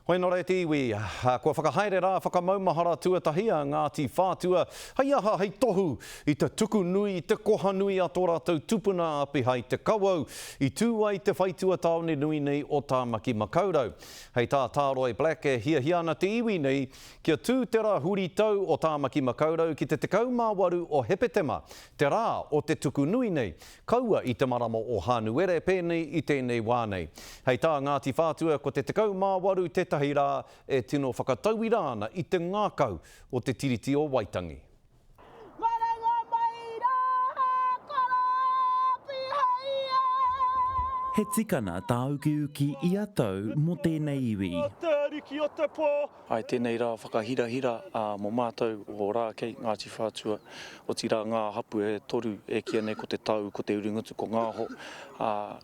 Hoi nō reira te iwi, kua whakahaere rā whakamaumahara tuatahi a Ngāti Whātua, hei aha, hei tohu i te tuku nui, i te koha nui a tō rātou tupuna a Pihai Te Kawau, i tū ai te whaitua tāone nui nei o Tāmaki Makaurau. Hei tā Tāroe Black e hiahia ana te iwi nei kia tū te rā huritau o Tāmaki Makaurau ki te 18 o Hepetema, te rā o te tuku nui nei, Kaua i te marama o Hānuere pēnei i tēnei wā nei. Hei tā Ngāti Whātua ko te 18 tētahi rā e tino whakatauira ana i te ngākau o te Tiriti o Waitangi. Marenga mai rā, he karāti hei e! He tikana tāukiuki ia tau mō tēnei iwi. Mō te ariki o te pō. I tēnei rā whakahirahira mō mātou o Rākei, Ngāti Whātua, otirā ngā hapū e toru e kīia nei ko Te Tau, ko Te Uringutu, ko Ngāho,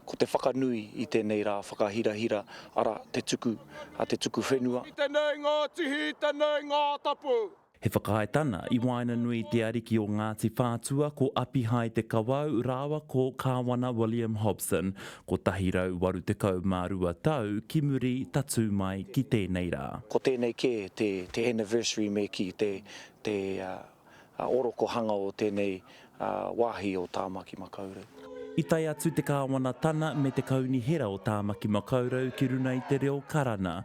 ko te whakanui i tēnei rā whakahirahira, arā, te tuku, te tuku whenua. Ki tenei ngā tihi, tenei ngā tapu. He whakaetana i waenganui i te ariki o Ngāti Whātua ko Apihai Te Kawau rāua ko Kāwana William Hobson, 182 tau ki muri tatū mai ki tēnei rā. Ko tēnei kē te anniversary me kī, te orokohanga o tēnei Wāhi o Tāmaki Makaurau. I tae atu te Kāwana Tana me te Kaunihera o Tāmaki Makaurau ki runga i te reo Karana,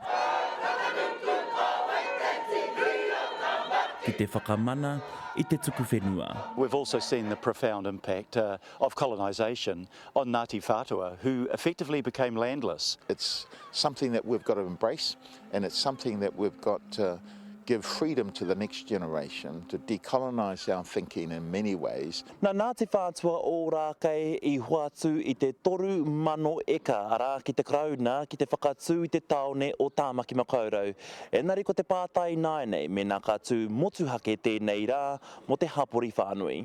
ki te whakamana i te tuku whenua. We've also seen the profound impact of colonisation on Ngāti Whātua who effectively became landless. It's something that we've got to embrace and it's something that we've got to give freedom to the next generation to decolonise our thinking in many ways. Na Ngāti Whātua Ōrākei i hoatu i te toru mano eka arā ki te Karauna ki te whakatū i te tāone o Tāmaki Makaurau. Engari ko te pātai ināianei mēnā ka tū motuhake tēnei rā mō te hapori whānui.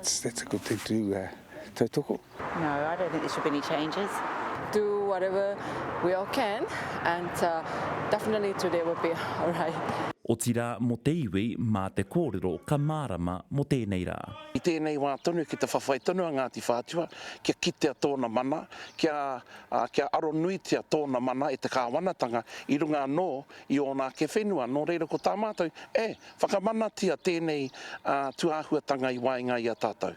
Statical Te tū tautoko. No, I don't think there should be any changes. Do whatever we all can and definitely today will be alright. Otirā mō te iwi mā te kōrero ka mārama mō tēnei rā. I tēnei wā tonu ki te whawhai tonu a Ngāti Whātua kia kitea tōna mana, kia, ā, kia aronuitia tōna mana e te Kāwanatanga i runga anō i ōna ake whenua. Nō reira ko tā mātou, eh! Whakamanatia tēnei tūāhuatanga i waenga i a tātou.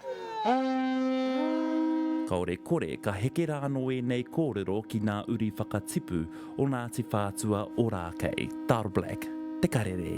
Kāore kore ka heke rā anō ēnei kōrero ki nā uri whakatipu o Ngāti Whātua Ōrākei. Tarr Black, Te Karere.